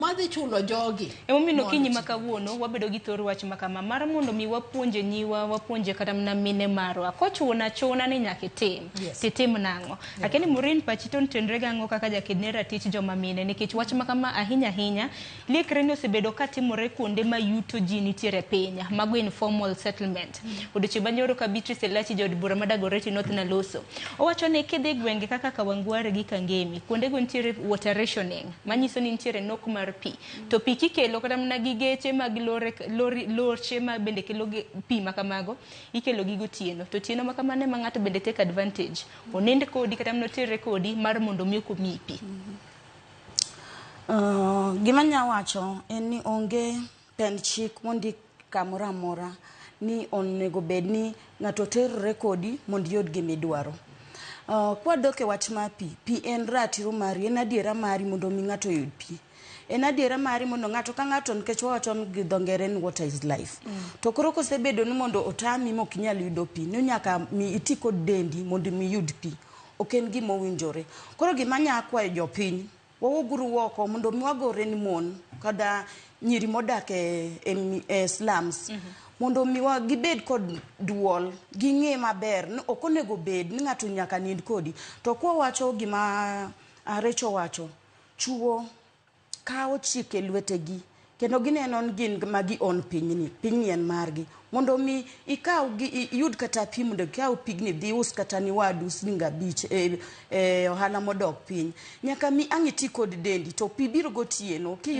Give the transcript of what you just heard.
madhi chulo jogi emomiyo mondo okinyi ma kawuono wabedo gi thor wach ma kama mar mondo mi wapuonje nyiwa wapuonje kata mana mine marwa kochuno achuna ni nyaka itim Yes. titim nang'o lakini murin pachi to nitenre gang'o kaka jakedne ratich joma mine nikech wach ma kama ahinya ahinya liekre ni osebedo ka timore kuonde ma yuto ji nitiere e piny mago informal settlement odiochieng' ma nyoro ka Beatrice Elachi jaod bura ma Dagoretti North Naloso owacho ni kidhi gwenge kaka Kawangware gi Kangemi kuondego nitiere water rationing manyiso ni nitiere nok mar pi to pi kikelo kata mana gi geche mag lore, lori, loche ma bende kelo ge- pi ma kamago ikelo gi gotieno to tieno ma kamano ema ng'ato bende take advantage onend kodi kata mana oterre kodi mar mondo mi okomiyi pi Uh, gima nya wacho en ni onge Pend chik mondik kamoro amora ni onego bed ni ng'ato terore kodi mondo iyud gima idwaro. Uh, kwadok e wach mar pi, pi en ratiro mari, en adiera mari mondo mi ng'ato oyud pi. En adiera mari mondo ng'ato ka ng'ato nikech wawacho ni gi dho ngere ni water is life. Mm. To koro kosebedo ni mondo otami mok inyal yudo pi, ni nyaka mi iti kod dendi mondo mi iyud pi. Ok en gima owinjore. Koro gima nya kwayo jopiny Wawuog uru woko mondo mi wagore ni mon kada nyiri modak e, e, mi- e slums mondo mi wa- gibed kod duol ging'e maber ni ok onego bed ni ng'ato nyaka nind kodi to kwa wacho gima ah, Rachel wacho chuo kawo chike lwetegi Kendo gineno ni gin ma gi own pinyni, pinyni en margi. Mondo mi ikaw gi iyud kata pi mondo ikaw pigni dhi us kata ni wadu siling' abich e, e ohala modok piny. Nyaka mi ang' iti kod dendi to pi biro gotieno. Ki